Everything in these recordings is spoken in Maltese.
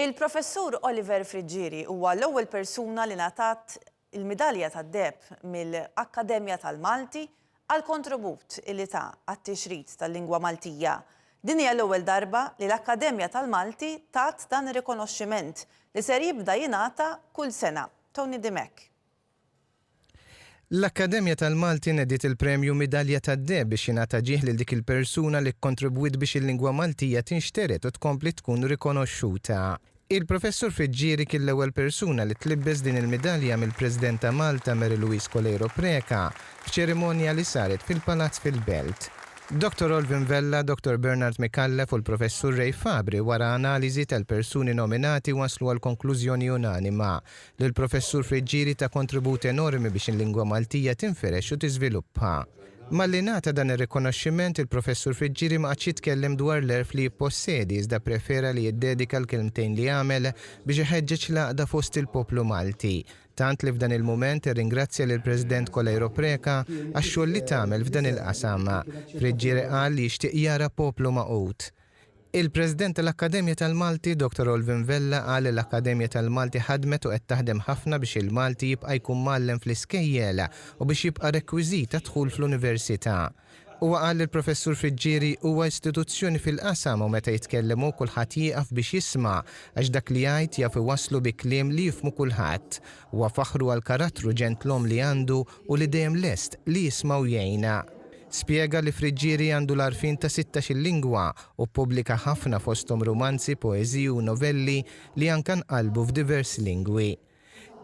Il-Professur Oliver Friggieri huwa l-ewwel persuna li ngħatat il-Midalja tad-Deheb mill-Akkademja tal-Malti għall-kontribut li ta għat-tixrid tal-lingwa Maltija. Din hija l-ewwel darba li l-Akkademja tal-Malti tat dan ir-rikonoxximent li ser jibda jingħata kull sena. Tony Dimech. L-Akkademja tal-Malti nediet il-Premju Midalja tad-Deheb biex jingħata ġieħ lil dik il-persuna li kkontribwiet biex il-lingwa Maltija tinxtered u tkompli tkun rikonoxxuta. Il-Professur Fiġġieri kien l-ewwel persuna li tlibbes din il-midalja mill-President ta' Malta Mary Louise Coleiro Preca f'ċerimonja li saret fil-Palazz fil-Belt. Dottor Olvin Vella, Dottor Bernard Micallef u l-Professur Ray Fabri wara analiżi tal-persuni nominati waslu għall-konklużjoni unanima Lill-Professur Friggieri ta kontribut enormi biex il-lingwa Maltija tinfirex u tiżviluppa. Malli ngħata dan ir-rikonoxximent, il-Professur Friggieri ma qagħadx jitkellem dwar l-għerf li jippossedi iżda pprefera li jiddedika l-kelmtejn li għamel biex iħeġġeġ l-għaqda fost il-poplu Malti, tant li f'dan il-mument irringrazzja lill-President Coleiro Preca għax-xogħol li tagħmel f'dan il-qasam. Friggieri qal li jixtieq jara poplu magħqud. Il-President tal-Akkademja tal-Malti, Dottor Olvin Vella qal li l-Akkademja tal-Malti ħadmet u qed taħdem ħafna biex il-Malti jibqa' jkun mgħallem fl-iskejjel u biex jibqa' rekwiżit għad-dħul fl-Università. Huwa qal li l-Professur Friggieri huwa istituzzjoni fil-qasam u meta jitkellem hu kulħadd jieqaf biex jisma' għax dak li jgħid jaf iwasslu bi kliem li jifhmu kulħadd. Huwa faħru għall-karattru ġentlom li għandu u li dejjem lest li jisma' u jgħin. Spjega li Friggieri għandu l-għarfien ta' sittax-il lingwa u ppubblika ħafna fosthom rumanzi, poeżiji u novelli li anka nqalbu f'diversi lingwi.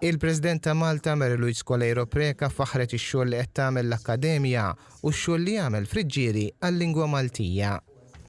Il-President ta' Malta, Mary Louise Coleiro Preca faħħret ix-xogħol li qed tagħmel l-Akkademja u x-xogħol li jagħmel Friggieri għal-lingwa Maltija.